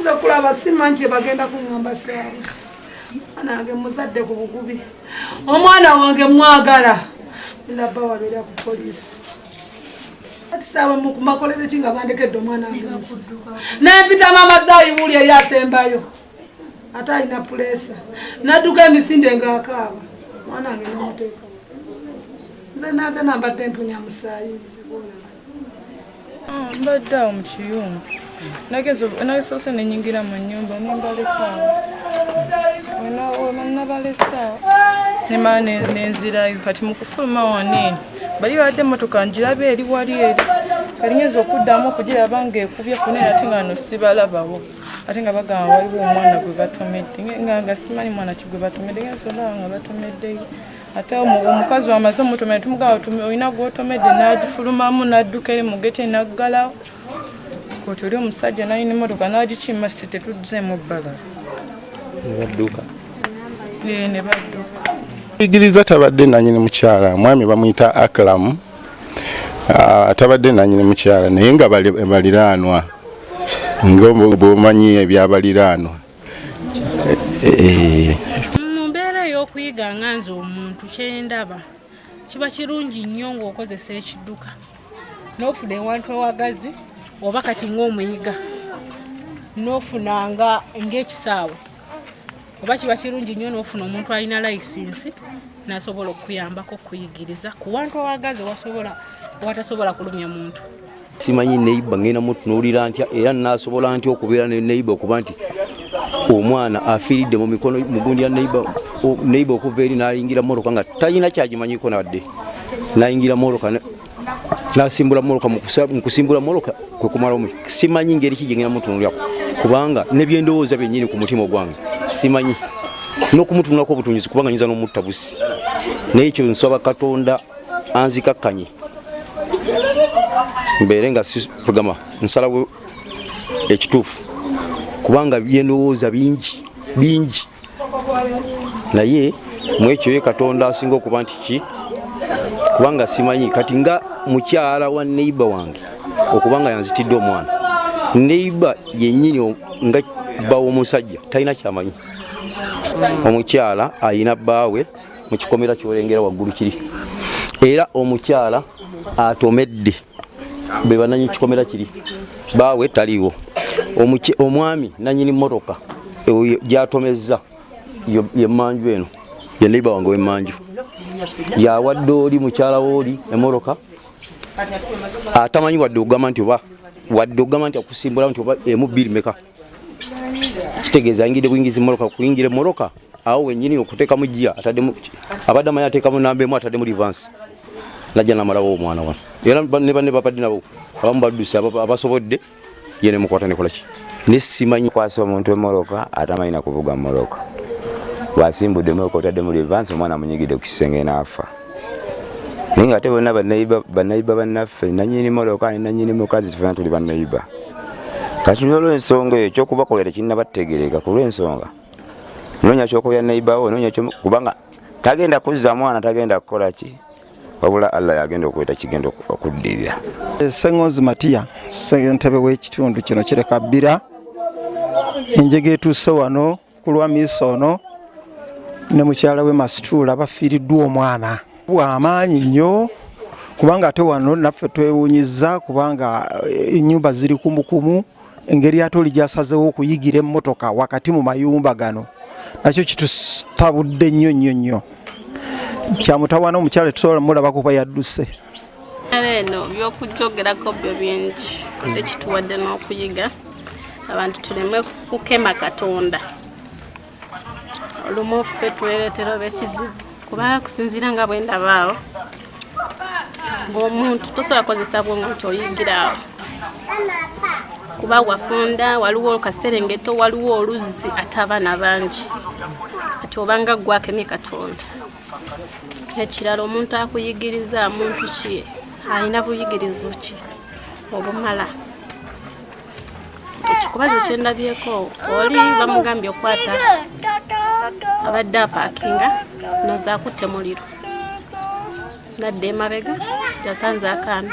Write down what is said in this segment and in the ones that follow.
nze kulaba simanki bagenda kuŋamba saawa anange muzadde ku bugubi omwana wange mwagala ndabba wabeera ku poliisi ati saawa mukumakolere ki nga bandekedde omwana wange naye mpita maama zaayiwuli eyasembayo ate alina puleesa nadduka emisinde ngaakaaba mwana wange nomuteeka nze naze nambadde mpunya musaayi ah, mbadde awo mu kiyumba nagesoose nenyingira mu nyumba nembalekaawo nabalesaawo nemaa nenzirayo kati mukufuluma waneeni bali badde emotoka njiraba eri wali eri kali nyinza okuddamu okugiraba nga ekubye kunene ate nga no sibalabawo ate nga bagamba waliwo omwana gwe batomedde nga simanyi mwana ki gwe batomedde ngensolaba nga batomedde ate omukazi wamaze omutomedde tumugamba olina gwotomedde nagifulumamu nadduka eri mugete naggalawo koti oli omusajja nalina emotoka nagikima si tetudzeemu bbala nebadduka nebadduka igiriza tabadde nanyini mukyala mwami bamuyita aklamu ah, atabadde nanyini mukyala naye nga baliraanwa ngaomanyi ebyabaliraanwa eh, eh. mu mbeera ey'okuyiga nga nze omuntu kyendaba kiba kirungi nnyo ng'okozesa ekidduka n'ofuna ewantu awagazi oba kati ng'omuyiga n'ofunanga ng'ekisaawe oba kiba kirungi nnyo n'ofuna omuntu alina layisinsi nasobola okuyambako okuyigiriza ku wantu awagazi wasobola watasobola kulumya muntu simanyi neiba ngenda mutunuulira ntya era nasobola ntya okubeera ne neiba okuba nti omwana afiiridde mu mikono mugundi ya neiba okuva eri nayingira moroka nga talina kyagimanyiko nadde nayingira moroka nasimbula moloka mukusimbula moloka kwekumala omu simanyi ngeri ki gyengenda mutunulako kubanga nebyendowooza byenyini ku mutima ogwange simanyi nokumutunulako obutunyizi kubanga nyinza nomutta busi naye ekyo nsaba katonda anzikakkanye mbeere nga sigama nsalawo ekituufu kubanga byendowooza bingi bingi naye mwekyo ye katonda asinga okuba nti ki kubanga simanyi kati nga mukyala wa neiba wange okuba nga yanzitidde omwana neiba yenyini nga bbawo omusajja talina kyamanyi omukyala ayina bbaawe mu kikomera kyolengera waggulu kiri era omukyala atomedde be bananyi kikomera kiri baawe taliiwo omwami nanyini motoka gyatomezza yemanju eno ye neiba wange wemanju yawadde oli mukyala wooli emotoka atamanyi wadde ogamba nti oba wadde ogamba nti akusimbula nti oba emu bbiri meka kitegeeza ayingidde buyingizi moroka kuyingira moroka awo wenyini okuteekamu gia atademu abadde amanyi ateekamu namba emu atademu livansi najja namalawo omwana wano era ne banne babadde nabo abamu badduse abasobodde ye nemukwata nekolaki nesimanyi kwasa omuntu emoroka atamanyi nakuvuga moroka bwasimbudde moroka otaddemu livansi omwana amunyigidde ku kisenge naafa naye nga ate bonna banayiba bannaffe nanyini moloka ne nanyini mukazi tufena tuli banayiba kati nolwensonga eyo kyokubakola tekinabategereka kulwensonga nonya kyokoya nayibawo nonya kubanga tagenda kuzza mwana tagenda kukola ki wabula allah yagenda okweta kigenda okuddirira eh, sengonzi matiya sentebe w'ekitundu kino kireka bbira enjega etuuse wano ku lwa miisa ono ne mukyala we masituula bafiiriddwa omwana bwamaanyi nnyo kubanga ate wano naffe twewunyiza kubanga eh, enyumba ziri kumukumu engeri ate oli gyasazewo okuyigira emmotoka wakati mu mayumba gano nakyo kitutabudde nnyo nnyo nnyo kyamutawana omukyala tusobola mulaba kuba yadduse eno byokujjogerako byo bingi ekituwadde n'okuyiga abantu tuleme kukema katonda olumu ffe twereetera oba ekizibu kuba kusinziira nga bwe ndabaawo ng'omuntu tosobola kozesa bwongo nti oyigira awo kuba wafunda waliwo olukaserengeto waliwo oluzzi ate abaana bangi ati obanga gwakemye katonda ekirala omuntu akuyigiriza muntu ki alina buyigirizu ki obumala ekikubazo kyendabyeko oli bamugambye okukwata abadde apakinga nazakutte muliro nadde emabega yasanze akaana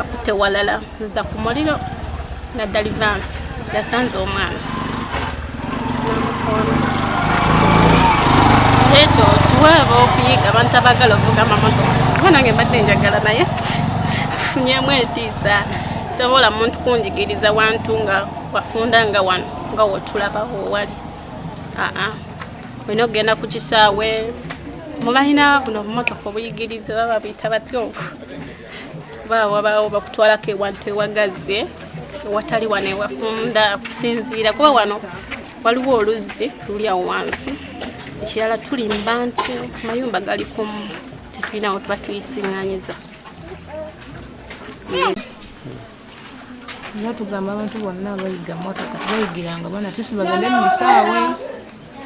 akutte walala nza ku muliro nadda livansi yasanze omwana ekyo kiweeba okuyiga abantu abagala ovuga amamotoka kuba nange mbadde njagala naye funyemu etiisa sobola muntu kunjigiriza wantu nga wafunda nga wano nga wotulabawo wali aa olina okugenda ku kisaawe mubalina buno obumotoka obuyigiriza baba buyita batyovu baba wabaawo bakutwalako ewantu ewagazze watali wano ewafunda kusinziira kuba wano waliwo oluzzi luli awo wansi ekirala tuli mbantu mayumba gali kumu tetulinawo tuba tuyisiŋanyiza era tugamba abantu bonna abayiga motoka tebayigiranga bana tesi bagende mu bisaawe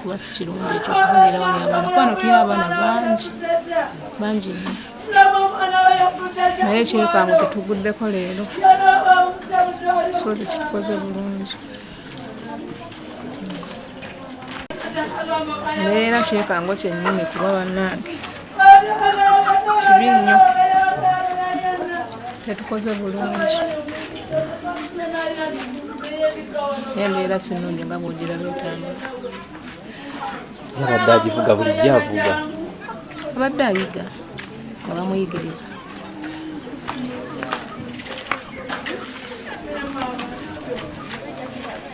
kuba si kirungi ekyokubeera wali abaana kuba notuya abaana bangi bangi nnyo naye ekyekango tetuguddeko leero so tekitukoze bulungi naye era kyekango kyennyini kuba bannange kibi nnyo tetukoze bulungi embeera sinungi nga bwogira lwetambula abadde agivuga bulijjo avuga abadde ayiga nga bamuyigiriza